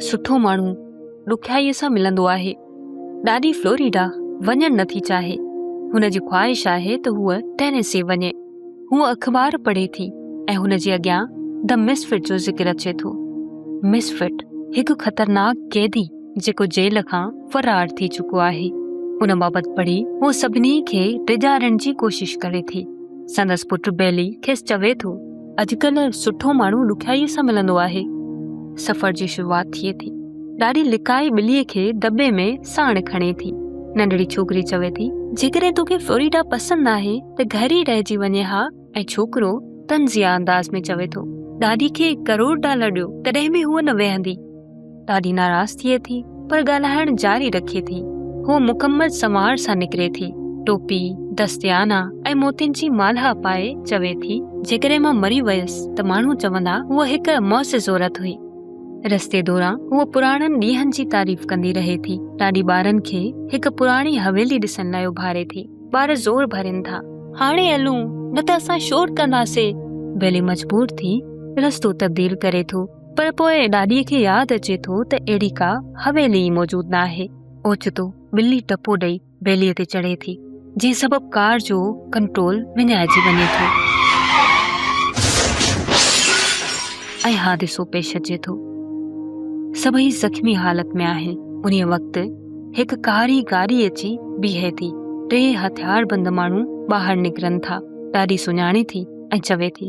سٺو ماڻهو ڏکيائيء سان ملندو آهي. ڏاڏي فلوريڊا وڃڻ نه ٿي چاهي. هن جي خواهش آهي ته هوء ٽينيسي وڃي. هوء اخبار پڙهي ٿي ۽ هن جي اڳيان The Misfit جو ذڪر اچي ٿو. Misfit هڪ خطرناڪ قيدي جيڪو جيل کان فرار ٿي چڪو آهي. ان بابت پڙهي هوء سڀني کي ڊيڄارڻ جي ڪوشش ڪري ٿي. سندس پٽ بيلي کيس چوي ٿو اڄڪلهه سٺو ماڻهو ڏکيائيء سان ملندو آهي. سفر جي شروعات ٿئي ٿي. ڏاڏي لڪائي ٻليء کي دٻي ۾ ساڻ کڻي ٿي. ننڍڙي ڇوڪري چوي ٿي. جيڪڏهن توکي فلوريڊا پسند ناهي ته گهر ئي رهجي وڃي ها ۽ ڇوڪرو طنزيه انداز ۾ چوي ٿو. ڏاڏي کي ڪروڙ ڊالر ڏيو تڏهن به هوء نه ويهندي. ڏاڍي ناراض ٿئي ٿي پر ڳالهائڻ جاري رکي ٿي. هوء مڪمل سنوار سان نڪري ٿي. ٽوپي، دستيانا ۽ موتين جي مالها پائي چوي ٿي، جيڪڏهن مان مري ويس ته ماڻهو چوندا هوء هڪ معزز عورت هئي. رستي دوران هوء پراڻن ڏينهن جي تعريف ڪندي رهي ٿي. ڏاڏي ٻارن کي هڪ پراڻي حويلي ڏسڻ لاء اڀاري ٿي. ٻار زور ڀرين ٿا. هاڻي هلون نه ته اسان شور ڪنداسين. بيلي مجبور ٿي رستو تبديل ڪري ٿو. پر پوء ڏاڏيء کي ياد اچي ٿو ته اهڙي ڪا حويلي ئي موجود نه آهي. اوچتو ٻلي ٽپو ڏئي ٻيلي تي چڙهي ٿي، جنهن سبب ڪار جو ڪنٽرول وڃائجي وڃي ٿو ۽ حادثو پيش اچي ٿو. سڀئي زخمي حالت ۾ آهن. انهيء وقت هڪ ڪاري گاڏي اچي بيهي ٿي. ٽي هٿياربند ماڻهو ٻاهر نڪرن ٿا. ڏاڏي سڃاڻي ٿي ۽ چوي ٿي.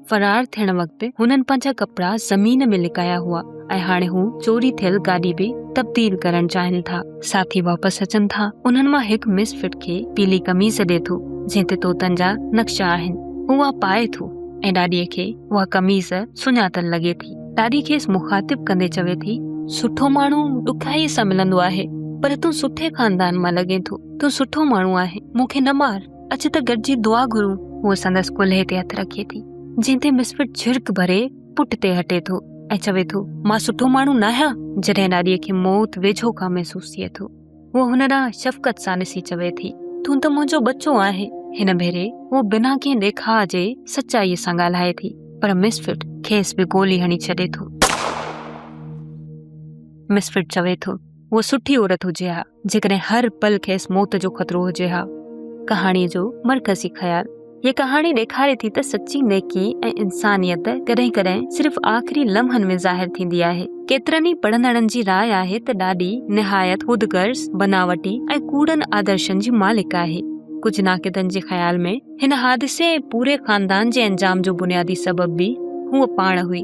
فرار ٿيڻ وقت هنن پنهنجا ڪپڙا زمين ۾ لڪايا هئا ۽ هاڻي هو چوري ٿيل گاڏي به تبديل ڪرڻ چاهين ٿا. ساٿي واپس اچن ٿا. انهن مان هڪ مس فٽ کي پيلي قميص ڏي ٿو جنهن تي طوطن جا نقشا آهن. هو اها پائي ٿو ۽ ڏاڏي کي اها قميص سڃاتل لڳي ٿي. ڏاڏي کيس مخاطب ڪندي چوي ٿي. سٺو ماڻهو ڏکيائي سان ملندو آهي پر تون سٺي خاندان مان لڳين ٿو. تون سٺو ماڻهو آهين. مون کي نه مار. اچ ته گڏجي دعا گھرون هو سندس ڪلهي تي هٿ رکي ٿي جنهن تي مسفٽ جھرڪ ڀري پٽ تي هٽي ٿو ۽ چوي ٿو مان سٺو ماڻهو نه آهيان جڏهن ڏاڏي کي موت ويجھو کان محسوس ٿئي ٿو هو هن ڏانهن شفقت سان ڏسي چوي ٿي تون ته منهنجو ٻچو آهي هن ڀيري هو بنا ڪنهن ڏيکاء جي سچائي سان ڳالهائي ٿي پر مسفٽ کيس به گولي هڻي ڇڏي ٿو مسفٽ چوي ٿو هو سٺي عورت هجي ها جيڪڏهن هر پل کيس موت جو خطرو هجي ها ڪهاڻي جو مرڪزي خيال هي ڪهاڻي ڏيکاري ٿي ته سچي نيڪي ۽ انسانيت ڪڏهن ڪڏهن صرف آخري لمحن ۾ ظاهر ٿيندي آهي ڪيترن ئي پڙهندڙن جي راء آهي ته ڏاڏي نهايت خود غرض بناوٽي ۽ ڪوڙن آدرشن جي مالڪ آهي ڪجهه ناقدن جي خيال ۾ هن حادثي ۽ پوري خاندان جي انجام جو بنيادي سبب به هو پاڻ هئي